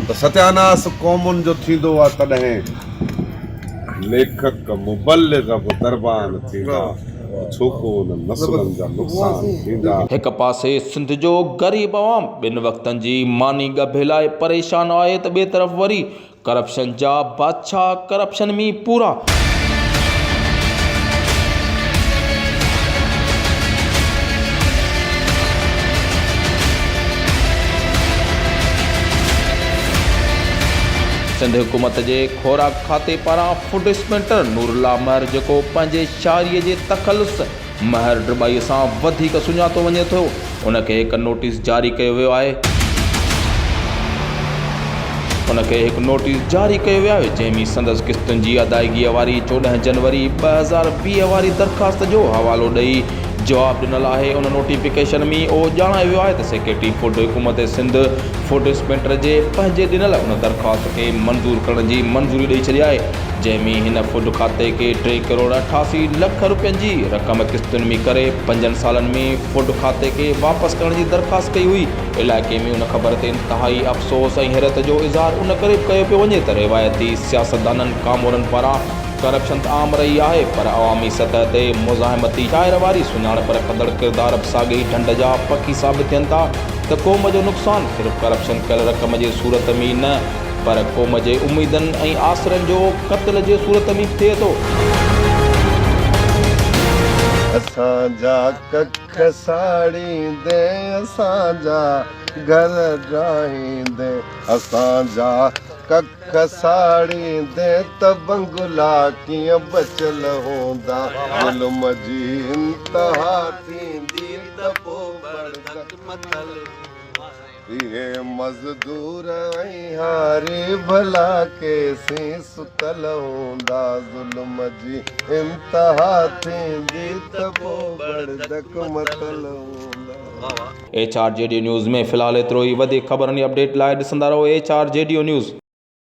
ته ستياناس قومن جو ٿيندو آ تڏهن ليکڪ مبلغ به قربان ٿيندا ته ڇوڪو انهن نسلن جا نقصان ٿيندا. هڪ پاسي سنڌ جو غريب عوام ٻن وقتن جي ماني ڳڀي لاء پريشان آهي ته ٻئي طرف وري ڪرپشن جا ڇا ڪرپشن مين پورا. سنڌ حڪومت جي خوراڪ کاتي پاران فوڊ اسپينٽر نور الله مهر جيڪو پنهنجي شاعري جي تخلص مهر ڊٻائي سان وڌيڪ سڃاتو وڃي ٿو، ان کي هڪ نوٽيس جاري ڪيو ويو آهي، ان کي هڪ نوٽيس جاري ڪيو ويو آهي جنهن ۾ سندس قسطن جي ادائگيء واري چوڏهن جنوري ٻه هزار ويهه واري درخواست جو حوالو ڏئي جواب ڏنل آهي، ان نوٽيفڪيشن ۾ اهو ڄاڻايو ويو آهي ته سيڪريٽري فوڊ حڪومت سنڌ فوڊ اسپينٽر جي پنهنجي ڏنل ان درخواست کي منظور ڪرڻ جي منظوري ڏئي ڇڏي آهي. جنهن ۾ هن فوڊ کاتي کي ٽي ڪروڙ اٺاسي لک رپين جي رقم قسطن ۾ ڪري پنجن سالن ۾ فوڊ کاتي کي واپس ڪرڻ جي درخواست ڪئي هئي. علائقي ۾ ان خبر تي انتهائي افسوس ۽ حيرت جو اظهار ان ڪري به ڪيو پيو وڃي ته روايتي سياستدانن ڪامورن پاران ڪرپشن ته عام رهي آهي پر عوامي سطح تي مزاحمتي شاعر واري سڃاڻپ رکندڙ ڪردار به ساڳئي ڍنڍ جا پکي ثابت ٿين ٿا ته قوم جو نقصان صرف ڪرپشن ڪيل رقم جي صورت ۾ ئي نه پر قوم جي اميدن ۽ آسرن جو قتل جي صورت ۾ ٿئي ٿو. اسان جا ڪک ساڙيندي اسان جا گهر ڊاهيندي اسان جا ڪک ساڙيندي ته بنگلا ڪيئن بچيل هوندا ظلم جي انتها ٿيندي ته پوء بڙدڪ مٿل هوندا. اهي مزدور ۽ هاري ڀلا ڪيسين ستل هوندا ظلم جي انتها ٿيندي ته پو بڙدڪ متل هوندا. ايڇ آر جي ڊيو نيوز ۾ في الحال ايترو ئي وڌيڪ خبرن جي اپڊيٽ لاء ڏسندا رهو ايڇ آر جي ڊيو نيوز.